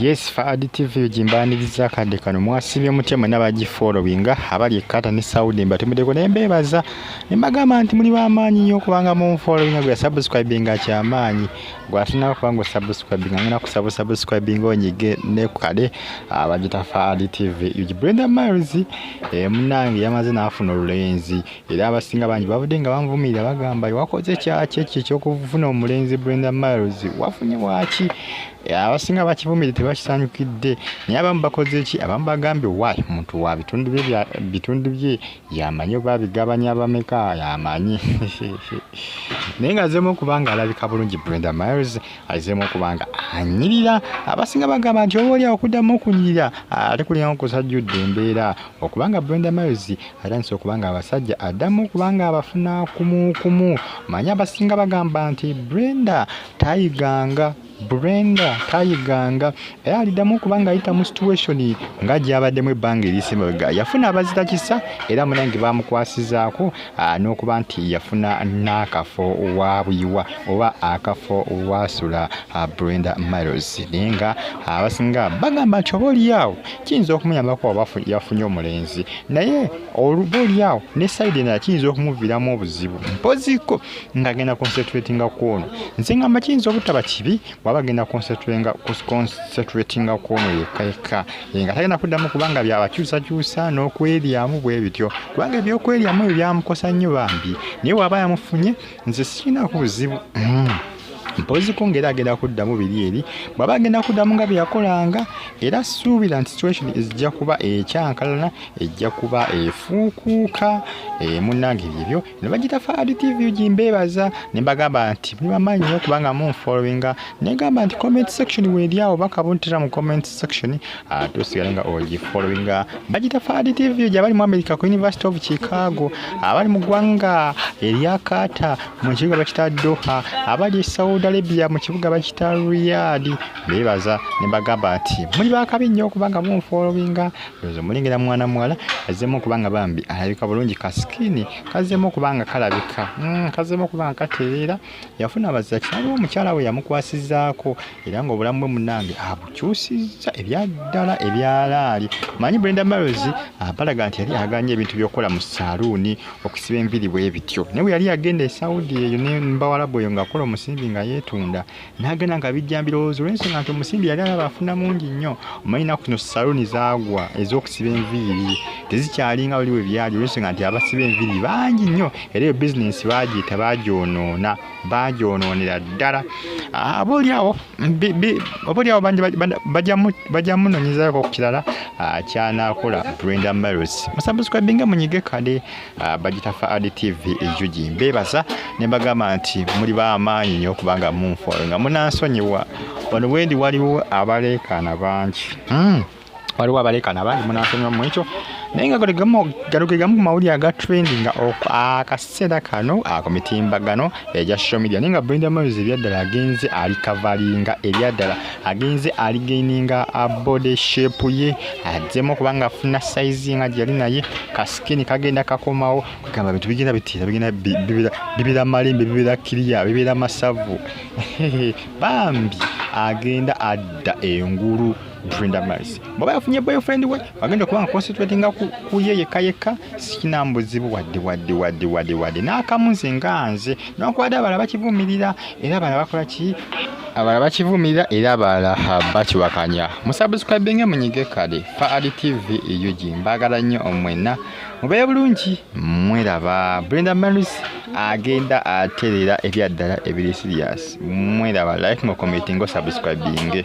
Yes Fahad TV ujimbaniriza kadde kano mwasibye mutya mwena bagi followinga abali ekata ne Saudi mbatumideko naye mbeebaza ne mbagamba nti muli bamaanyi nnyo kubanga mu followinga gwe subscribinga kyamaanyi gwe asinako kubanga osubscribinga ngena kusaba subscribinga onyige ne kukade abagita Fahad TV uji Brenda Miles eh, munange yamaze n'afuna olulenzi era abasinga bangi babadde nga banvumirira bagamba wakoze kyaki ekyo ekyokufuna omulenzi brenda miles wafunye waki eh, abasinga bakivumirire tebakisanyukidde naye abamu bakoze ki abamu bagambye wy omuntu wa bitundu bye yamanyi oba bigabanya bameka yamanyi naye nga azemu okubanga alabika bulungi brenda miles azemu okubanga anyirira abasinga bagamba nti oba olyawo okuddamu okunyirira ate kulinga kusajjudde embeera okubanga brenda miles atandise okubanga abasajja addamu kubanga abafuna kumukumu manya abasinga bagamba nti brenda tayiganga brenda tayiganga era aliddamu kubanga ayita mu situation nga gyabaddemu ebbanga erisemabega yafuna abazita kisa era munange bamukwasizaako ah, n'okuba nti yafuna n'akafo wabuyiwa oba akafo wasula ah, brenda miles naye nga abasinga bagamba nti oba oliyaawo kiyinza okumuyambako yafunye omulenzi naye oluba olyawo ne saidi endala kiyinza okumuviramu obuzibu mpoziko ngaagenda concentratinga kwono nze ngamba kiyinza obutaba kibi bwaba agenda concentratinga kwono yekka yekka nga tagenda kuddamu kubanga byabakyusakyusa n'okweryamu bwe bityo kubanga ebyokweryamu ebyo byamukosa nnyo bambi naye bwaba yamufunye nze sirinaako buzibu hmm. mpoziko ngaera agenda kuddamu biri eri bwaba agenda kuddamu nga byeyakolanga era suubira nti situation ezijja kuba ekyankalana ejja kuba efuukuuka eh, munange byebyo ne bagita faadi tv gi mbeebaza ne mbagamba nti muli bamaanyi nyo kubanga munfollowinga negamba nti comment section weeri awo bakabuntira mu comment section Ah, tusigale nga ogifollowinga bagita fadi tv gyabali mu america ku university of chicago abali mu ggwanga erya kaata mu kibuga bakita doha abali e saudi arabia mu kibuga bakita riyad bebaza ne bagamba nti muli bakabi nnyo okubanga munfollowinga ozo mulengera mwana muwala azemu okubanga bambi alabika bulungi kasikini kazemu okubanga kalabika mm, kazemu okubanga katereera yafuna abaziza kitaawe omukyala we yamukwasizaako era ng'obulamu bwe munange abukyusizza ebyaddala ebyalaali manyi brenda marozi abalaga nti yali aganye ebintu by'okukola mu saaluuni okusiba enviri bwe bityo naye bwe yali yagenda esaudi eyo nembawalabu eyo ng'akola omusimbi nga yeetunda n'agenda nga bijja mbirowoozo olwensonga nti omusimbi yali alaba afuna mungi nnyo omanyi naku kino saaluuni zaagwa ez'okusiba enviiri tezikyalinga wali we byali olwensonga nti abasiba enviiri bangi nnyo era eyo bizinensi baagiyita baagyonoona baagyonoonera ddala ah, aba olyawo oba olyawo bangi bajja munonyezako ku kirala ah, kyanakola brenda maris musabusukabinga munyige kale ah, bagita fa ad tv ejugi mbebaza ne mbagamba nti muli bamaanyi nyo okubanga munfolo nga munansonyiwa wano wendi waliwo abaleekaana bangi hmm. waliwo abaleekaana bangi munansonyiwa mu ekyo naye nga gano ge gamu ku mawulire aga trendinga akaseera kano ku mitimbagano egya social media naye nga brenda moyes ebyaddala agenze ali kavalinga ebyaddala agenze ali gaininga body shape ye azzemu okubanga afuna saizi nga gyeyali naye kasikini kagenda kakomawo kwegamba bintu bigenda bitiira bigenda bibeera malembe bibeera kiriya bibeera masavu bambi agenda adda engulu Brenda Mercy bwaba yafunye boyfriend we agenda kubanga concentratinga ku ye yekka yekka sikina mbuzibu wadde wadde wadde wadde wadde n'akamu nze nga nze nokwada abalala bakivumirira era abalala bakola ki abalala bakivumirira era abalala bakiwakanya musabuscribinge munyige kale fa ali tv ug mbaagala nnyo omwena mubeere bulungi mweraba brenda marus agenda atereera ebyaddala ebiri sirias mweraba like mukomitingo sabuscribinge